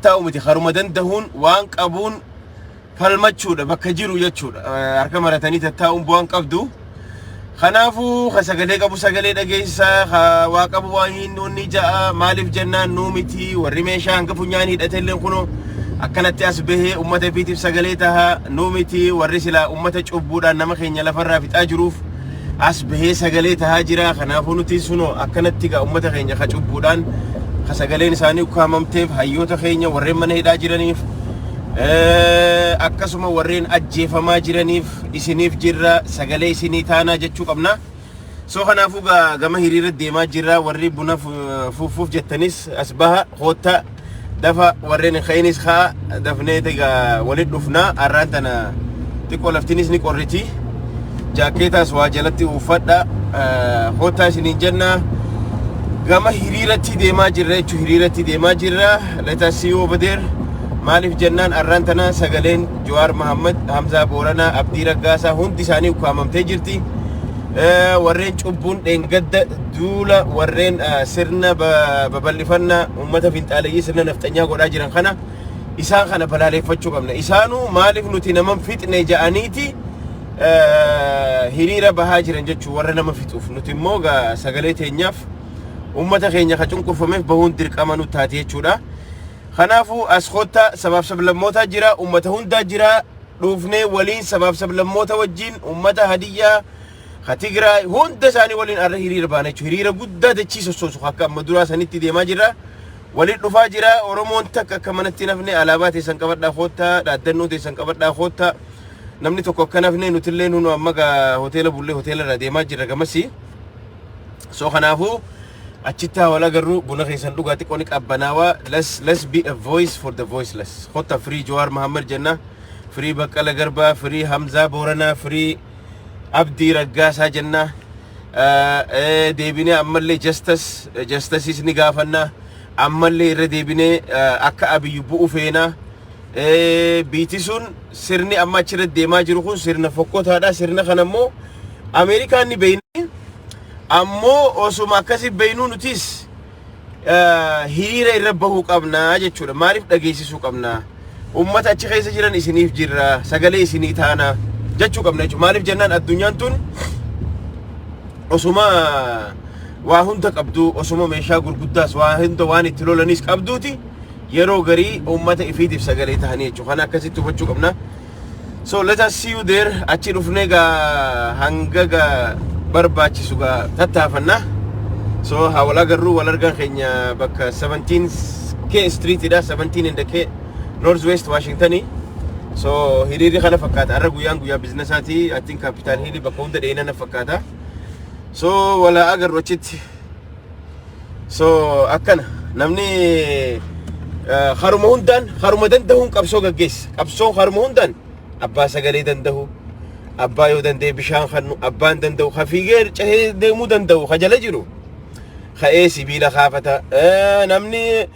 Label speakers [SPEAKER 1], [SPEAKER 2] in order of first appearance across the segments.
[SPEAKER 1] taa'u miti haruma dandahuun waan qabuun falmachuudha bakka jiru jechuudha harka maratanii tattaa'uun bu'aan qabdu. Kanaafu ka sagalee qabu sagalee dhageessisa, ka waa qabu waa hin nuunni ja'a. Maaliif jennaan nuu miti warri meeshaa hanga funyaan hidhatelleen kuno akkanatti as bahee ummata ifiitiif sagalee taha. Nuu miti warri silaa ummata cubbuudhaan nama keenya lafarraa fixaa jiruuf as bahee sagalee tahaa jira. Kanaafuu nutis suno akkanatti gaa ummata keenya ka cubbuudhaan ka sagaleen isaanii ukkaamamteef hayyoota keenya warreen mana hidhaa jiraniif akkasuma warreen ajjeefamaa jiraniif isiniif jirra sagalee isinii taanaa jechuu qabna. So kanaafuu gaa gama hiriira deemaa jirra warri buna fu- fuufuuf jettanis as baha kootta dafa warreen hin ka'inis ka'a dafnee egaa walitti dhufna har'aan tana xiqqoo laftinis ni qorriti jaakkeetaas waa jalatti uffadha eh, koottaa isiniin jenna gama hiriiratti deemaa jirra jechuun hiriiratti deemaa jirra let us see you over there maaliif jennaan har'aan tana sagaleen Jawaar Mahaammad, Hamzaa Booranaa, Abdii Raggaasaa hundi isaanii ukkaamamtee jirti. Warreen cubbuun dheengadda duula warreen sirna babal'ifannaa uummata finxaaleyyii sirna nafxanyaa godhaa jiran kana isaan kana balaaleeffachuu qabna. Isaanuu maaliif nuti naman fixne ja'aniiti hiriira bahaa jiran jechuu warra nama fixuuf nuti immoo sagalee teenyaaf uummata keenya ka cunqurfameef bahuun dirqama nu taate jechuudha. Kanaafuu as kottaa sabaaf sablammootaa jiraa ummata hundaa jiraa dhuufnee waliin sabaaf sablammoota wajjiin ummata Hadiyyaa ka Tigraay hunda isaanii waliin arra hiriira baana jechuudha. Hiriira guddaa dachii sossoosu akka amma duraa sanitti deemaa jirra. Waliin dhufaa jira Oromoon takka akka manatti nafne alaabaa teessan qabadhaa koottaa dhaaddannoo teessan qabadhaa koottaa namni tokko akka nafne nutillee nunu amma gaa hoteela bullee hoteela irraa deemaa jirra gamasii. So kanaafuu Achitti haa wal agarru buna keessan dhugaa xiqqoo ni qabbanaawa let's let's be a voice for the voiceless kotta free Jawaar Muhammad jenna free Baqqala Garbaa free Hamzaa Booranaa free Abdii Raggaasaa jenna Eh, deebinee ammallee justice eh, justices ni gaafanna ammallee irra deebinee eh, akka abiyyu bu'u feena Eh, biiti sun sirni amma achirra deemaa jiru kun sirna fokkotaadha sirna kana immoo Ameerikaan ni beeyna Ammoo osuma akkasi beynuu nutis hiriira irra bahuu qabna jechuudha. Maaliif dhageessisuu qabna? Uummata achi keessa jiran isiniif jirra, sagalee isinii taana jechuu qabna jechuudha. Maaliif jennaan addunyaan tun osuma waa hunda qabdu, osuma meeshaa gurguddaas waa hunda waan itti lolanis qabduuti yeroo garii uummata ifiitiif sagalee tahanii jechuudha. Kana akkasitti hubachuu qabna. So let us see you there achi dhufnee gaa hanga gaa barbaachisu gaa tattaafanna. So haa wal agarru wal argaan keenya bakka 17K Street dha 17 and K North West Washington. So hiriirri kana fakkaata har'a guyyaan guyyaa biizinasaati I think Capital Hill bakka hunda dheeyina na fakkaata. So wal haa agarru achitti. so akkana namni eh, haruma hundaan haruma dandahuun qabsoo gaggeessa qabsoon haruma hundaan abbaa sagalee dandahu abbaa yoo danda'e bishaan kannu abbaan dandahu ka fiigee cehee deemuu dandahu ka jala jiru ka'ee sibiila kaafata Eh, namni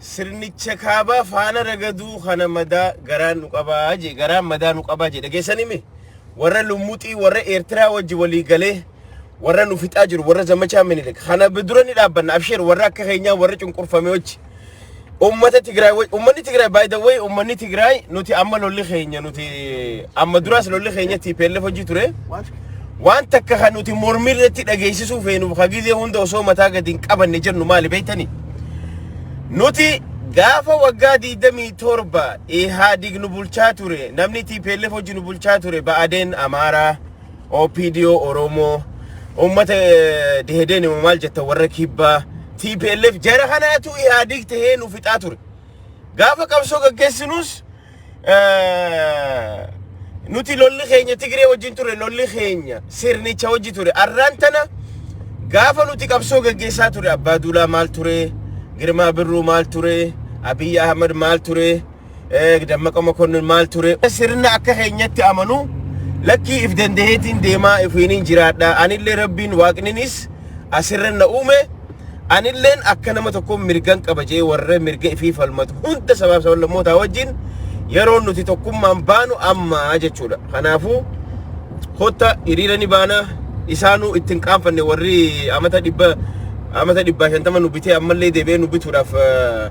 [SPEAKER 1] Sirnicha kaabaa faana ragaduu kana madaa garaan nu qabaa jee garaan madaa nu qabaa jee dhageessanii mi warra lummuxii warra eertiraa wajji walii galee warra nu fixaa jiru warra zamachaa minilik kana dura ni dhaabbanna absheer warra akka keenyaa warra cunqurfame wajji Uummata Tigraay waj- uummanni Tigraay by the way uummanni Tigraay nuti amma lolli keenya nuti amma duraas lolli keenya TPLF hojii ture. Waan takka kan nuti mormii irratti dhageessisuu feenuuf ka gizee hunda osoo mataa gadi hin qabanne jennu maali beektanii? Nuti gaafa waggaa 27 Ihaadig nu bulchaa ture, namni TPLF hojii nu bulchaa ture, Ba'adeen Amaaraa, OPDO Oromoo uummata Dehedeen immoo maal jetta warra kibbaa TPLF jara kanaatu Ihaadig tahee nu fixaa ture. Gaafa qabsoo gaggeessinus eh, nuti lolli keenya Tigree wajjin ture lolli keenya sirnicha wajji ture. Arraan tana gaafa nuti qabsoo gaggeessaa ture Abbaa Duulaa maal ture? Girmaa Birruu maal ture? Abiyyi Ahmad maal ture? eh, Dammaqa Mokonnon maal ture sirna akka keenyatti amanu lakkii if dandaheetiin deemaa ifiiniin jiraadha anillee rabbiin waaqninis asirra na uume anilleen akka nama tokkoon mirgan qaba jee warra mirga ifii falmatu hunda sabaaf sablammootaa wajjin yeroo nuti tokkummaan baanu amma jechuudha kanaafuu kotta hiriira ni baana isaanuu ittiin qaanfanne warri amata dhibba amata dhibbaa shantama nu bitee ammallee deebi'ee nu bituudhaaf eh,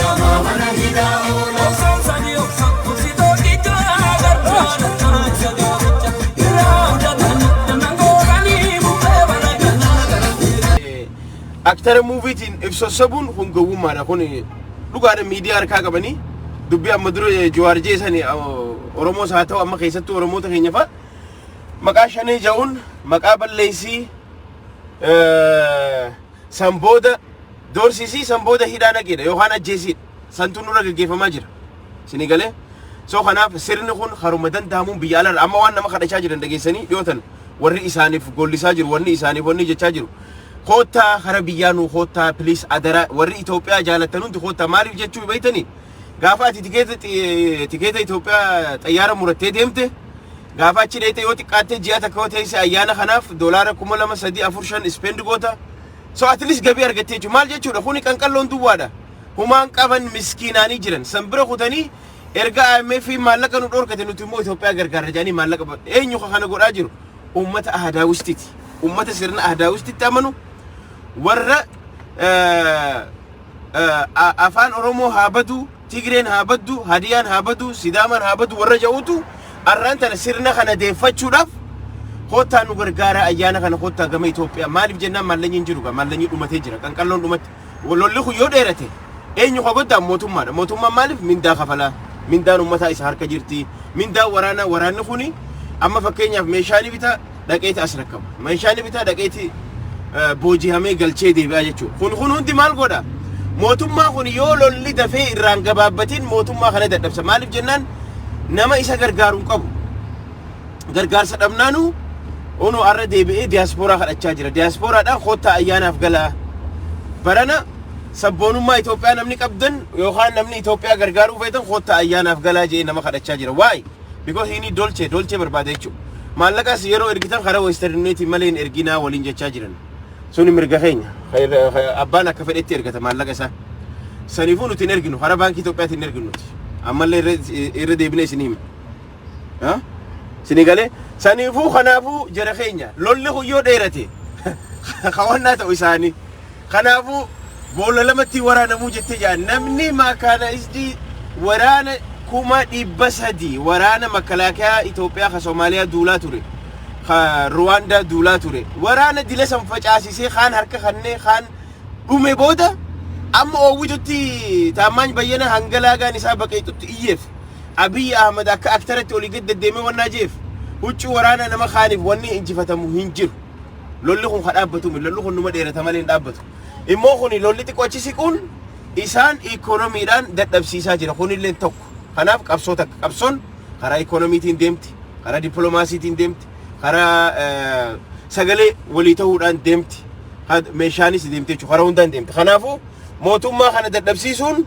[SPEAKER 1] Lamaa mana hidhaa oola. Osoo sanii of sokku si tokkicha. Gargaara taa'isa gaaricha. Irraa abdatanii dannan gooranii bubbee bara kanaa gara seera. Aktara muuviitiin if sossobuun kun gowwummaadha. Kun dhugaadha miidiyaa harkaa qabanii dubbii amma dura Jawaar jeesan Oromoos haa ta'u amma keessattuu Oromoota keenya fa'a maqaa shanee ja'uun maqaa balleessii eh, San booda doorsisi, san booda hidhaa naqiidha yookaan ajjeesiidha. Santu nurra geggeeffamaa jira. Isinii galee? So kanaaf sirni kun haruma danda'amuun biyya alarra amma waan nama kadhachaa jiran dhageessanii dhiyootan warri isaaniif gollisaa jiru, wanni isaaniif wanni jechaa jiru. Koottaa kara biyyaa nuu koottaa please adara warri Itoophiyaa jaalattan hundi koottaa maaliif jechuu beektanii? Gaafa ati tikeeta tikeeta Itoophiyaa xayyaara murattee deemte Gaafa achi dheeyte yoo xiqqaatte ji'a takka yoo teeyse ayyaana kanaaf doolaara kuma lama sadii afur shan spend goota. So at least gabii argatte jechuudha. Maal jechuudha kuni qanqalloon duwwaadha. Humaan qaban miskiinaanii jiran. San bira kutanii erga IMF maallaqa nu dhoorkate nuti immoo Itoophiyaa gargaarra jedhanii maallaqa ba- eenyu ka kana godhaa jiru? Uummata Ahadaawistiti. Uummata sirna Ahadaawistitti amanu warra eh, eh, a- afaan Oromoo haa baduu Tigreen haa baddu, Hadiyaan haa badu, Sidaamaan haa badu warra ja'utu arraan tana sirna kana deeffachuudhaaf koottaa nu gargaaraa ayyaana kana koottaa gama Itoophiyaa maaliif jennaan maallanyi hin jiru gaa maallanyi dhumatee jira qanqalloon dhumatti lolli kun yoo dheerate eenyu ka goddaan mootummaadha mootummaan maaliif mindaa kafalaa mindaan ummataa isa harka jirti mindaan waraanaa waraanni kuni amma fakkeenyaaf meeshaa ni bitaa dhaqeeti as rakkaba. Meeshaa inni bitaa dhaqeeti boojihamee galchee deebi'aa jechuudha. Kun kun hundi maal godha? Mootummaa kun yoo lolli dafee irraan gabaabbatiin mootummaa kana dadhabsa. Maaliif jennaan nama isa gargaaru hin qabu. Gargaarsa dhabnaanuu unu arra deebi'ee diyaaspooraa kadhachaa jira. Diyaaspooraadhaan koottaa ayyaanaaf galaa. Barana sabboonummaa Itoophiyaa namni qabdan yookaan namni Itoophiyaa gargaaruu feetan koottaa ayyaanaaf galaa jee nama kadhachaa jira. Waa'ee. because inni dolche dolche barbaada jechuudha. Maallaqas yeroo ergitan karaa western uniontiin malee hin erginaa waliin jechaa jiran. Suni mirga keenya. Abbaan akka fedhetti ergata maallaqa isaa. Saniifuu nuti hin erginu karaa baankii Itoophiyaatiin hin erginu nuti. Ammallee irra- irra deebinee isin hima. Ha? Isinii galee saniifuu kanaafuu jara keenya lolli kun yoo dheerate hawannaa ta'u isaanii Kanaafuu boolla lamatti hin waraanamuu jettee jedha. Namni maakaanaayizdii waraana 300,000 waraana makalaakiyaa Itoophiyaa ka Somaaliyaa duulaa ture, ka Ruwaandaa duulaa ture, waraana dila san facaasisee kaan harka kannee kaan dhume booda amma oowwitutti Taammaany Bayyanaa hanga laagaan isaa baqeexutti iyyeef. Abiy Ahmad akka aktaratti olii gad deddeemee wannaa jeef huccuu waraanaa nama kaaniif wanni injifatamu hin jiru. Lolli kun ka dhaabbatu miti. Lolli kun numa dheerata malee hin dhaabbatu. Immoo kuni lolli xiqqoo achi siquun isaan ikoonomiidhaan dadhabsiisaa jira. Kunillee tokko. Kanaaf qabsoo takka. Qabsoon karaa ikoonomiitiin deemti, karaa dippiloomaasiitiin deemti, karaa eh, sagalee walii ta'uudhaan deemti. Ka- Meeshaanis deemti jechuudha. Karaa hundaan deemti. Kanaafuu mootummaa kana dadhabsiisuun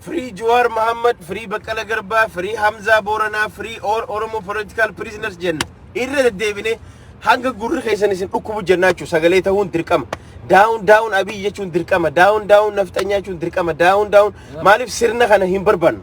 [SPEAKER 1] Free Juwaar Mahammad, Free Baqqala Garbaa, Free Hamzaa Booranaa, Free All Oromo Political Prisoners jenna. Irra deddeebinee hanga gurri keessan isin dhukkubu jennaa jechuudha. Sagalee ta'uun dirqama. Daawun daawun Abiy jechuun dirqama. Daawun daawun Nafxanyaa jechuun dirqama. Daawun daawun maaliif sirna kana hin barbaannu?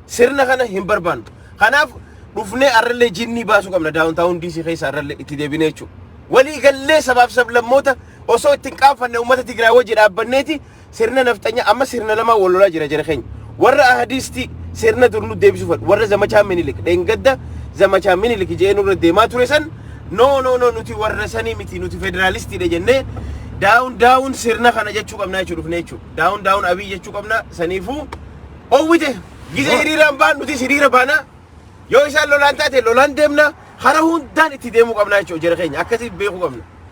[SPEAKER 1] Sirna kana hin barbaannu. Kanaaf dhufnee arrallee jinnii baasuu qabna daawun taawun diisii keessa arrallee itti deebinee jechuudha. Walii gallee sabaaf sablammoota osoo ittiin qaanfanne uummata Tigraay wajji dhaabbanneeti Sirna nafxanyaa amma sirna lamaan wal lolaa jira jara keenya. Warra ahadiisti sirna dur nu deebisuu fedhu. Warra zamachaa minilik dheengadda zamachaa minilik je'ee nurra deemaa ture san no no no nuti warra sanii miti nuti federaalistiidha jennee daawun daawun sirna kana jechuu qabnaa jechuu dhufne jechuu daawun daawun abii jechuu qabnaa saniifuu owwite gizee hiriiraan baan nuti hiriira baanaa yoo isaan lolaan taate lolaan deemna hara hundaan itti deemuu qabnaa jechuu jara keenya akkasii beekuu qabna.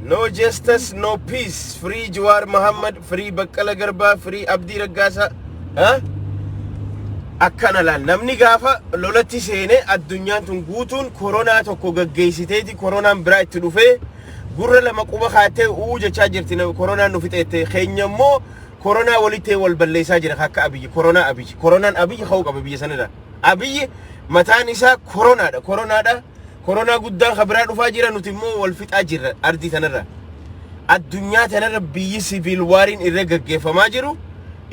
[SPEAKER 1] No justice, no peace. Free Jawar Muhammad, free Baqqala Garba, free Abdi Raggasa. Huh? Akkana laal namni gaafa lolatti seenee addunyaan tun guutuun koronaa tokko gaggeessiteeti koronaan biraa itti dhufee gurra lama quba kaattee uu jechaa jirti na- koronaan nu fixeette keenya immoo koronaa walitti wal balleessaa jira akka abiyyi koronaa abiyyi koronaan abiyyi ka'uu qaba biyya sanirra abiyyi mataan isaa koronaadha koronaadha koronaa guddaan kan biraa dhufaa jira nuti immoo wal fixaa jirra ardii tanarra addunyaa tanarra biyyi siviil waariin irra gaggeeffamaa jiru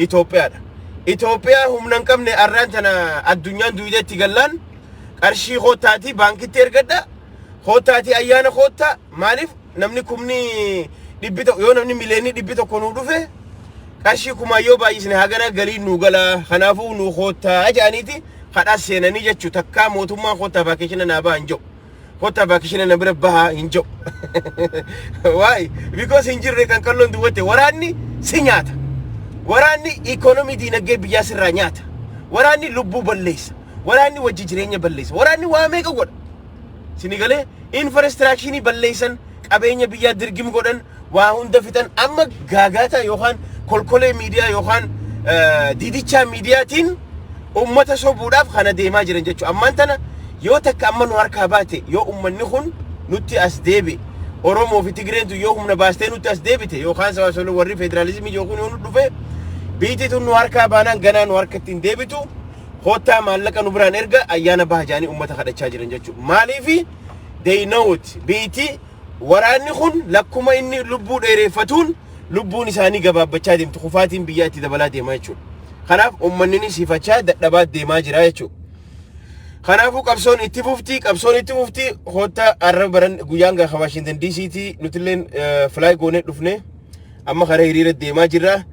[SPEAKER 1] Itoophiyaadha. Itoophiyaa humna hin qabne arraan tana addunyaan duwideetti gallaan qarshii koottaatii baankitti ergadha Koottaatii ayyaana koottaa maaliif namni kumni dhibbi tokko yoo namni mileenni dhibbi tokko nuu dhufe qarshii kumaa yoo baay'isne hagana galiin nuu galaa kanaafuu nuu koottaa jedhaniiti kadhaa seenanii jechuu takkaa mootummaan koottaa vaakeshina naa baha hin jedhu. Koottaa vaakeshina na bira baha hin jedhu. Waa'ee because hin jirre kan qalloon duwwatte waraanni si nyaata. Waraanni ikoonomii diinagdee biyyaa sirraa nyaata. Waraanni lubbuu balleessa. Waraanni wajji jireenya balleessa. Waraanni waa meeqa godha? Sini galee infraastiraakshini balleessan qabeenya biyyaa dirgim godhan waa hunda fixan amma gaagaataa yookaan kolkolee miidiyaa yookaan didichaa miidiyaatiin ummata sobuudhaaf kana deemaa jiran jechuudha. Ammaan tana yoo takka amma nu harkaa baate yoo ummanni kun nutti as deebi Oromoo fi Tigreentu yoo humna baastee nutti as deebite yookaan sabaasolo warri federaalizimii yookiin yoo nu dhufe biitii tun nu harkaa baanaan ganaa nu harkatti hin deebitu. koottaa maallaqa nu biraan erga ayyaana baha jaanii ummata kadhachaa jiran jechuudha. Maaliifi they know it biiti waraanni kun lakkuma inni lubbuu dheereeffatuun lubbuun isaanii gabaabbachaa deemti kufaatiin biyyaa itti dabalaa deema jechuudha. Kanaaf uummanni siifachaa dadhabaa deemaa jira jechuudha. Kanaafuu qabsoon itti fufti qabsoon itti fufti koottaa arra baran guyyaan gaha Waashintan DC'ti nutilleen filaay goonee dhufnee. Amma karaa hiriira deemaa jirra.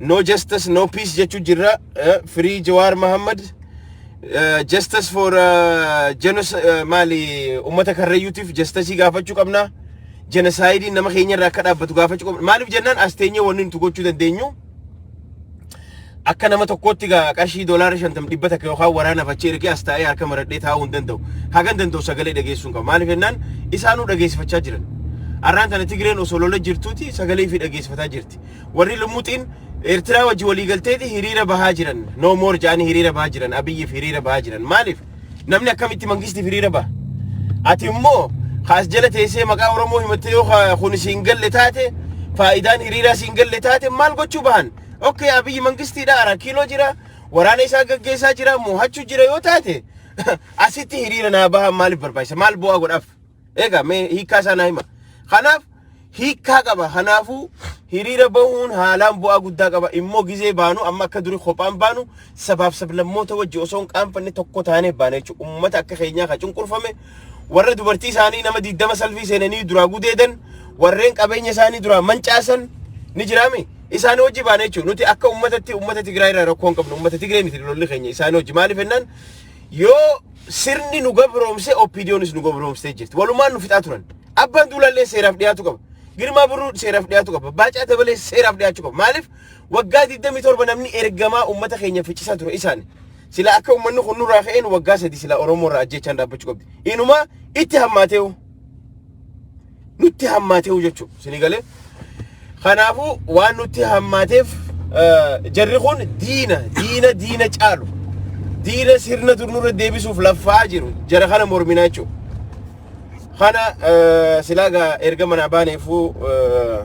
[SPEAKER 1] No justice, no peace jechuu jirra. Eh, Free Jawaar Mohammed. Eh, Justice for eh, genocide eh, maali uummata karrayyuutiif justice gaafachuu qabna. Genocide nama keenya irraa akka dhaabbatu gaafachuu qabna. Maaliif jennaan as teenyee wanni nuti gochuu dandeenyu Akka nama tokkootti gaa qarshii doolaara shantam dhibba takka yookaan waraanaaf achi ergee as taa'ee harka maradhee taa'uu hin danda'u. Hagan danda'u sagalee dhageessuun qaba. Maaliif jennaan isaanuu dhageessifachaa jiran. Har'aan tana Tigreen osoo lola jirtuuti sagalee fi dhageessifataa jirti. Warri lumuxiin Eertiraa wajji walii galteeti hiriira bahaa jiran. No more jedhanii hiriira bahaa jiran. Abiyyiif hiriira bahaa jiran. Maaliif? Namni akkamitti mangistiif hiriira baha? Ati immoo kaas jala teessee maqaa Oromoo himattee yoo ka- kun siin galle taate faayidaan hiriiraa siin galle taate maal gochuu bahan? Okkee Abiyyi mangistiidha araa kiiloo jira waraana isaa gaggeessaa jira moohachuu jira yoo taate asitti hiriira naa bahan maaliif barbaachisa? Maal bu'aa godhaaf? Egaa mee hiikkaa isaa naa hima. Kanaaf hiikkaa qaba. Kanaafuu hiriira bahuun haalaan bu'aa guddaa qaba. Immoo gizee baanu amma akka durii kophaan baanu sabaaf sablammoota wajji osoo hin qaanfanne tokko taanee baana jechuudha. Uummata akka keenyaa kan cunqurfame warra dubartii isaanii nama diddama salfii seenanii duraa gudeedan warreen qabeenya isaanii duraa mancaasan ni jiraame. Isaan hojii baana jechuudha. Nuti akka uummatatti uummata Tigraay irraa rakkoo hin qabnu. Uummata Tigraay miti lolli keenya. Isaan hojii maaliif jennaan Yoo sirni nu gabroomse OPDOnis nu gabroomsitee jirti. Walumaan nu fixaa turan. Abbaan Duulaallee seeraaf dhiyaatu qaba. Girmaa Birruu seeraaf dhiyaatu qaba. Baacaa Dabalee seeraaf dhiyaachuu qaba. Maaliif waggaa 27 namni ergamaa uummata keenya ficcisaa ture isaani. Sila akka uummanni kun nurraa ka'een waggaa sadi sila Oromoo irraa ajjeechaan dhaabbachuu qabdi. Inumaa itti hammaateewu. nutti hammaateehu jechuudha. Isinii galee? Kanaafuu waan nutti hammaateef eh, jarri kun diina, diina, diina caalu. Diina sirna dur nurra deebisuuf laffaa jiru. Jara kana morminaa jechuudha. Kana eh, silaa gaa erga manaa baaneefuu eh,